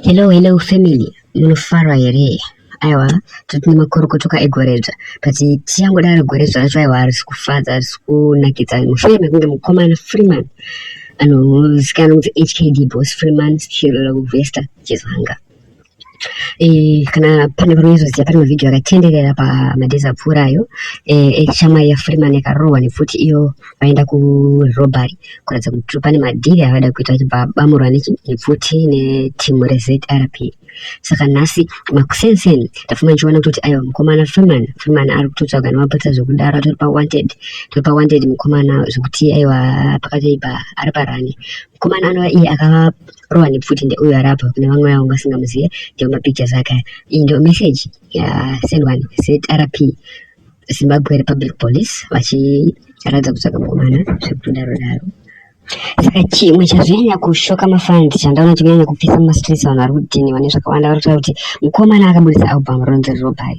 Hello, hello family, munofara here? Aiwa, tati nemakuru kutuka egoredzva, tati tiyangoda ari goredzva racho aiwa arisi kufadza, arisi kunakidza mushure mekunge mukomana Freeman anozikanwa kuti HKD boss Freeman Chirora Kuvesta Chizanga. Eh, kana pane vari kuzoziva pane mavhidhiyo akatenderera pamadhezi apfuura ayo eh, eshamwari eh, yafreeman yakarohwa nepfuti iyo vaenda kurobary kuratidza kuti pane madhiri avada kuita vachibva bamurwa nepfuti netimu rezrp saka nhasi makusenseni ndafuma ndichiona kutoti aiwa mukomana freeman freeman ari kutotsvaga nemapurisa zvekudaro atori pawanted tori pawanted mukomana zvekuti aiwa pakatoi pa ari parani mukomana anova iye akava Rowan pfuti ndeuyo ari apa kune vamwe vavo vasingamuzive ndiwo mapictures ake aya iyi ndiyo message yasendwa zrp zimbabwe republic police vachiratidza kutsvaga mukomana zvekutodaro daro saka chimwe chazvinyanya kushoka mafans chandaona chikunyanya kupisa mumastreets vanhu vari kudhiniwa nezvakawanda vari kutaura kuti mukomana akaburitsa album ronzi robai